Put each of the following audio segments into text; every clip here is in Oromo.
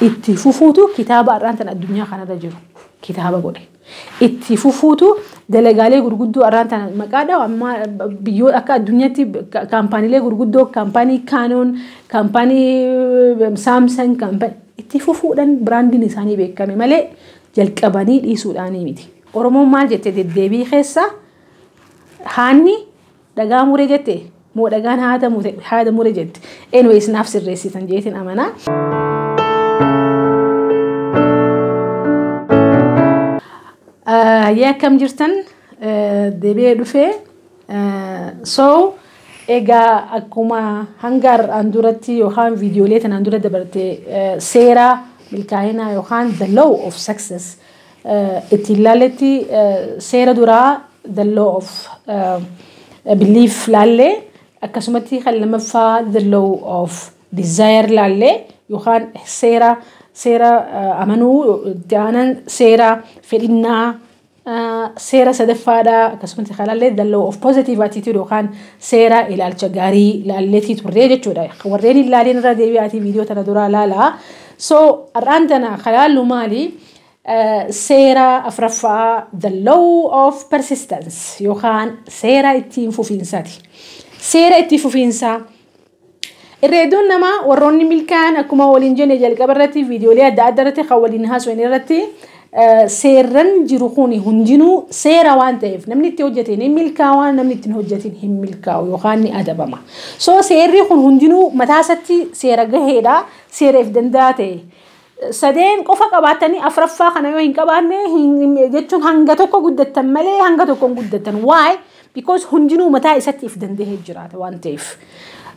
itti fufuutu kitaaba har'aan tan addunyaa kanarra jiru kitaaba godhe. Itti fufuutu dalagaalee gurguddoo har'aan tan maqaa dhahu amma biyyoota akka addunyaatti kaampaaniilee gurguddoo kaampaanii Kaanoon kaampaanii Saamsan kaampaanii itti fufuudhaan biraandiin isaanii beekame malee jalqabanii dhiisuudhaanii miti. Oromoon maal jette deddeebii keessa haanni dhagaa mure jette moo dhagaan haada mure haada mure jette anyways naaf sirreessitan jeetin amanaa. Yaa akkam jirtan deebi'ee dhufee so egaa akkuma hanga har'aan duratti yookaan viidiyoolee tanaan dura dabarte seera milkaa'inaa yookaan the law of success ittiin laalletti seera duraa the law of belief laalle akkasumatti kan lamaffaa the law of desire laalle yookaan seera seera amanuu itti aanan seera fedhinnaa seera sadaffaadha akkasumatti kan laalle the law of positive attitude yookaan seera ilaalcha gaarii laalleetii turree jechuudha warreen hin laalin irra deebi'aatii viidiyoo tana duraa laalaa so har'aan tana kan laallu maali Seera afraffaa the law of persistence yookaan seera ittiin fufiinsaati. Seera itti fufiinsaa irra hedduun namaa warroonni milkaa'an akkuma waliin jenne jalqaba irratti viidiyoolee adda addaa irratti kan waliin haasofne irratti eh, seerran jiru kun hundinuu seera waan ta'eef namni itti hojjete ni milkaawa namni itti hin hojjetin hin milkaawu yookaan ni adabama. So seerri kun hundinuu mataa isaatti seera gaheedha seera if danda'a ta'e. Sadeen qofa qabaattanii afraffaa kana yoo hin qabaanne jechuun hanga tokko guddattan malee hanga tokko hin guddattan. Why? Because hundinuu mataa isatti if danda'ee jiraata waan ta'eef.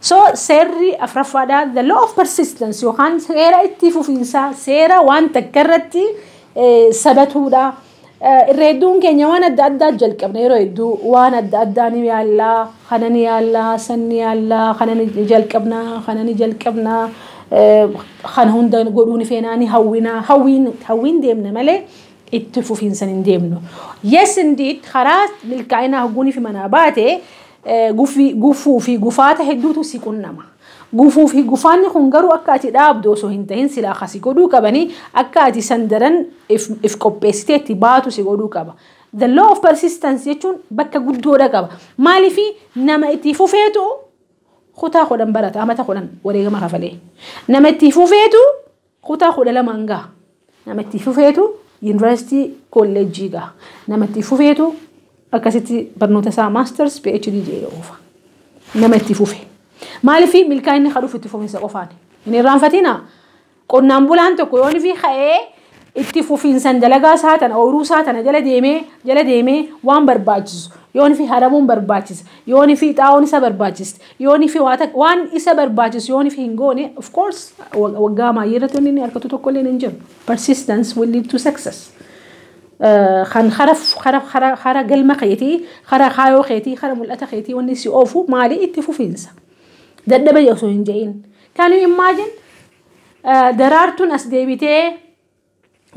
So seerri afraffaadhaa the law of persistence yookaan seera itti fufiinsaa seera waan takka irratti sabatuudha. Irra hedduun keenya waan adda addaa jalqabna yeroo hedduu waan adda addaa ni yaalla kana ni yaalla san ni yaalla kana ni jalqabna kana ni jalqabna kana hunda godhuu ni feenaa ni hawwina hawwiin hawwiin deemna malee itti fufiinsan hin deemnu. Yes indeed karaa milkaa'inaa hogguunii fi manaa baate gufuu fi gufaata hedduutu si qunnama. Gufuu fi gufaanni kun garuu akka ati dhaabdu osoo hin tahin silaa ka si godhuu qabanii akka ati san daran if, if qopheessitee itti baatu si godhuu qaba. The law of persistence jechuun bakka guddoodha qaba. Maaliifi nama itti fufeetu kutaa kudhan barata, amata kudhan wareegama kafalee. Nama itti fufeetu Kutaa 12 hanga nama itti fufeetu yuunivarsiitii kolleejjii gaha. Nama itti fufeetu akkasitti barnoota isaa maasters PhD jedhee oofa. Nama itti fufe. Maaliif milkaa'inni kan dhufu itti fufinsa qofaani. Hin irraanfatina. Qonnaan bulaan tokko yoon fi ka'ee itti fufinsan dalagaa isaa tana ooyiruu isaa tana jala deemee jala deemee waan barbaachisu yoon fi haramuun barbaachisa yoon fi xaa'oon isa barbaachisa Yoonif waan isa barbaachisu yoonif hin goone of course waggaa maayyii irratti wanni inni argatu tokko illee hin jiru. Persistence will lead to success. Kan hara galma keetii, hara kaayoo keetii, hara mul'ata keetii wanni si oofu maali itti fufiinsa. Dadhabe osoo hin jedhin. Can you imagine daraartuun as deebitee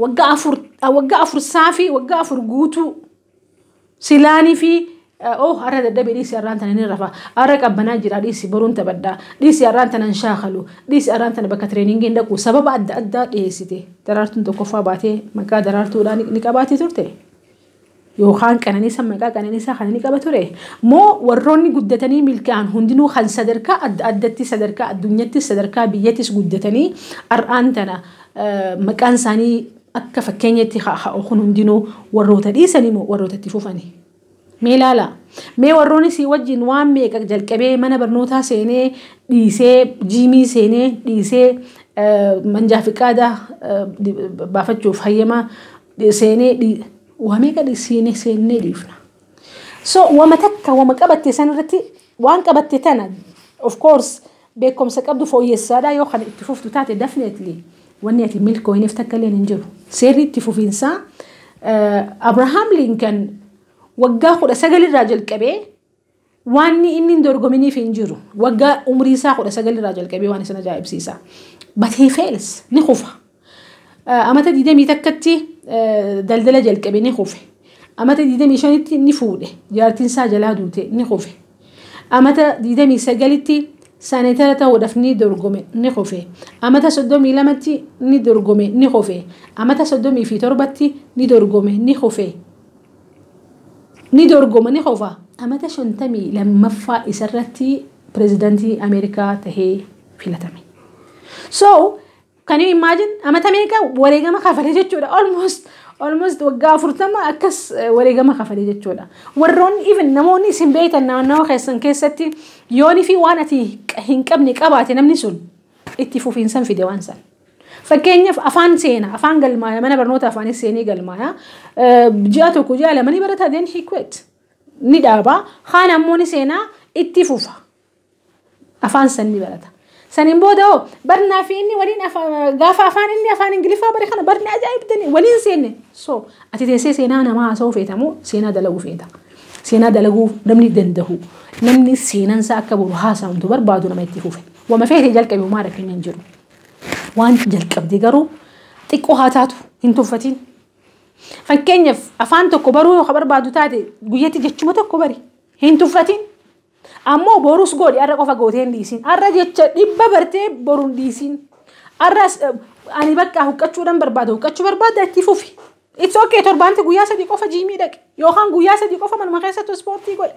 waggaa afur waggaa afur saafii waggaa afur guutuu silaanii fi oo har'a dadhabe dhiisi har'aan tana ni rafa har'a qabbanaa jira dhiisi boruun taphadhaa dhiisi har'aan tana hin shaakalu dhiisi har'aan tana bakka tireeningii hin dhaqu sababa adda addaa dhiyeessite daraartuun tokkoffaa baatee maqaa daraartuudhaan ni qabaatee turte. yookaan qananiisa maqaa qananiisaa kana ni qaba ture? Moo warroonni guddatanii milkaa'an hundinuu kan sadarkaa adda addatti sadarkaa addunyattis sadarkaa biyyatis guddatanii ar'aan tana maqaan isaanii akka fakkeenyatti ka'u kun hundinuu warroota dhiisanii moo warroota itti fufanii? Mee laala. Mee warroonni sii wajjin waan meeqa jalqabee mana barnootaa seenee dhiisee jiimii seenee dhiisee manjaa fiqaadaa baafachuuf hayyama seenee dhi waa meeqa dhi siinee seennee dhiifna. So wama takka wama qabatte san irratti waan qabatte tana of course beekumsa qabdu fooyyessaadha yoo kana itti fuftu taate definitely wanni ati milkooyneef takka illee hin jiru. Seerri itti fufiinsaa Abrahaam Linkan waggaa kudha sagalirraa jalqabee Waanni inni hin dorgominiif hin jiru. Waggaa umrii isaa 19 irraa jalqabee waan isin ajaa'ibsiisa. But he fails. Ni kufa. Eh, Amata 20 takkatti eh, daldala jalqabe ni kufe. Amata 25tti ni fuudhe. Jaartiin isaa jalaa duute ni kufe. Amata 29tti saaneetara ta'uudhaaf ni dorgome ni kufe. Amata 32tti ni dorgome ni kufe. Amata 37tti ni dorgome ni kufe. ni dorgoma ni qofa. Amata 52ffaa isarratti pirezidantii Ameerikaa tahee filatame. So, kan you imagine amata meeqa wareegama kafale jechuudha. Almost, almost waggaa 40 akkas wareegama kafale jechuudha. Warroonni even namoonni isin beektan naannawa keessan keessatti yoonii fi waan ati hin qabne qabaate namni sun itti fufiinsan fide waan san. Fakkeenyaaf afaan seena, afaan galmaaya, mana barnoota afaanis seenee galmaaya. Ji'a tokko, ji'a lama ni barata, then he quit. Ni dhaaba. Kaan ammoo ni seena, itti fufa. Afaan san ni barata. Saniin booda hoo barnaa fi inni waliin gaafa afaan inni afaan Ingiliffaa bare kana barnaa ajaa'ibdanii waliin seenne. So ati teessee seenaa namaa haasa'uu feeta moo seenaa dalaguu feeta? Seenaa dalaguu namni danda'u namni seenansaa akka boru haasa'amtu barbaadu nama itti fufe. Wama feete jalqabi homaa rakkinni hin jiru. Waanti jalqabde garuu xiqqoo haa taatu hin tuffatiin. Fakkeenyaaf afaan tokko baruu yoo ka barbaadu taate guyyatti jechuma tokko bari hin tuffatiin. Ammoo borus godhi har'a qofa gootee hin dhiisiin. Har'a jecha dhibba bartee boru hin dhiisiin. Har'as eh, ani bakka huqqachuudhaan barbaada huqqachuu barbaada itti fufi. It's okay torbaanti guyyaa sadii qofa jiimii dhaqi yookaan guyyaa sadii qofa manuma keessatti ispoortii godhi.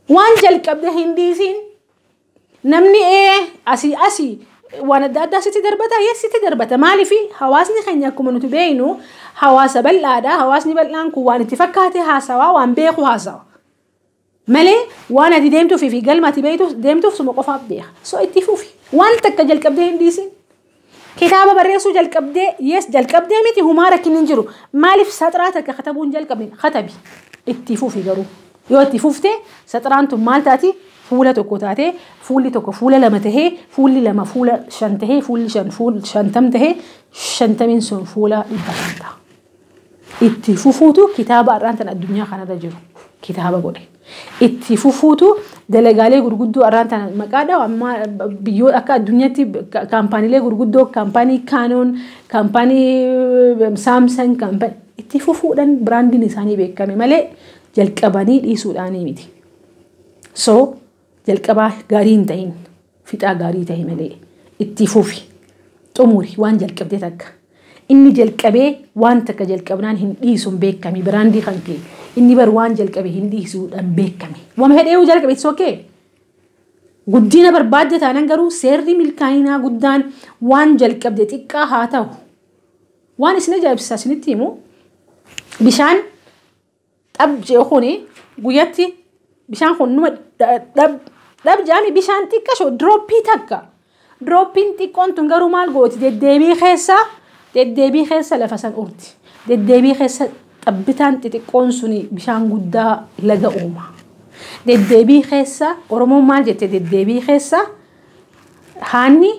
Waan jalqabde hin dhiisiin. Namni ee asii asii waan adda addaa sitti darbata yes sitti darbata maaliif hawaasni keenya akkuma nuti beeknu hawaasa bal'aadha hawaasni bal'aan kun waan itti fakkaate haasawaa waan beeku haasawa malee waan ati deemtuuf fi galma ati beektuuf deemtuuf suma qofaaf beeka so itti fufi waan takka jalqabdee hin dhiisin Kitaaba barreessuu jalqabdee yes jalqabdee miti humaa rakkinni hin jiru. Maaliif saxraa takka katabuu hin jalqabne katabi itti fufi garuu. Yoo itti fufte saxraan tun maal taati fuula tokko taatee fuulli tokko fuula lama tahee fuulli lama fuula shan tahee fuulli shan fuul shantam tahee shantamiin sun fuula dhibba shan ta'a. Itti fufuutu kitaaba har'aan tan addunyaa kanarra jiru kitaaba godhe. Itti fufuutu dalagaalee gurguddoo har'aan tan maqaa dhawa amma biyyoo akka addunyaatti ka- kaampaaniilee gurguddoo kaampaanii Canon, kaampaanii eh, Samsung, kaampaanii itti fufuudhaan biraandiin isaanii beekame malee jalqabanii dhiisuudhaanii miti. So Jalqabaa gaarii hin tahin fixaa gaarii tahi malee ittii fufi xumuri waan jalqabde takka inni jalqabee waan takka jalqabnaan hin dhiisun beekami biraandii kan kee inni bar waan jalqabe hin dhiisuudhan beekami wama hedheeyu jalqabe it's okay Guddina barbaadda taanan garuu seerri milkaa'inaa guddaan waan jalqabde xiqqaa haa ta'u. Waan isin ajaa'ibsiisaa isinitti himu bishaan Dhab jee kuni guyyatti bishaan kun numa dhab dhab jaami bishaan xiqqasho dirooppii takka. Dirooppiin xiqqoon tun garuu maal gooti deddeebii keessa deddeebii keessa lafa san urti. Deddeebii keessa xabbitaan xixiqqoon suni bishaan guddaa laga uuma. Deddeebii keessa Oromoon maal jette deddeebii keessa haanni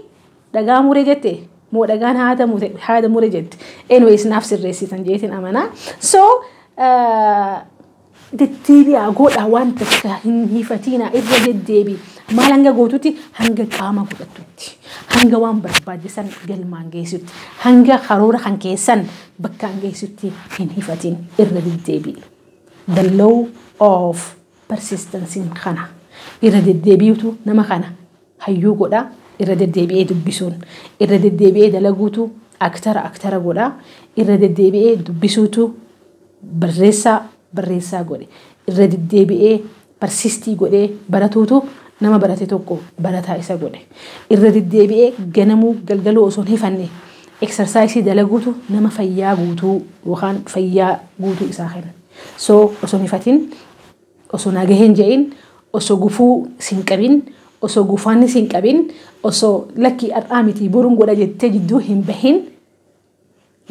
dhagaa mure jette moo dhagaan haada mure haada mure jette anyways naaf sirreessitan jeetin amanaa so deddeebi'aa godhaa waan takka hin hifatiinaa irra deddeebi maal hanga gootutti hanga qaama godhattutti hanga waan barbaachisan galmaan geessutti hanga karoora kan keessan bakkaan geessutti hin hifatiin irra deddeebi'i the law of persistency kana irra deddeebi'utu nama kana hayyuu godha, irra deddeebi'ee dubbisuun, irra deddeebi'ee dalaguutu aktara aktara godha, irra deddeebi'ee dubbisuutu barreessaa barreessaa godhe, irra deddeebi'ee parsistii godhee baratuutu nama barate tokko barataa isa godhe, irra deddeebi'ee ganamuu galgaluu osoo hin hifanne eksarsaayisii dalaguutu nama fayyaa guutuu yookaan fayyaa guutuu isaa kenna. So osoo hin hifatin Osoo nagahee hin je'iin, osoo gufuu si hin qabin, osoo guufaanni si hin qabin, osoo lakkii ar'aa mitii borun godha jettee jidduu hin bahin,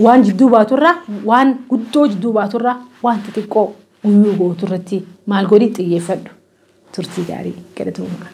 waan jidduu baaturraa, waan guddoo jidduu baaturraa, waan xixiqqoo guyyuu gooturratti maal godhi xiyyeeffadhu. Turtii gaarii galatoomaa.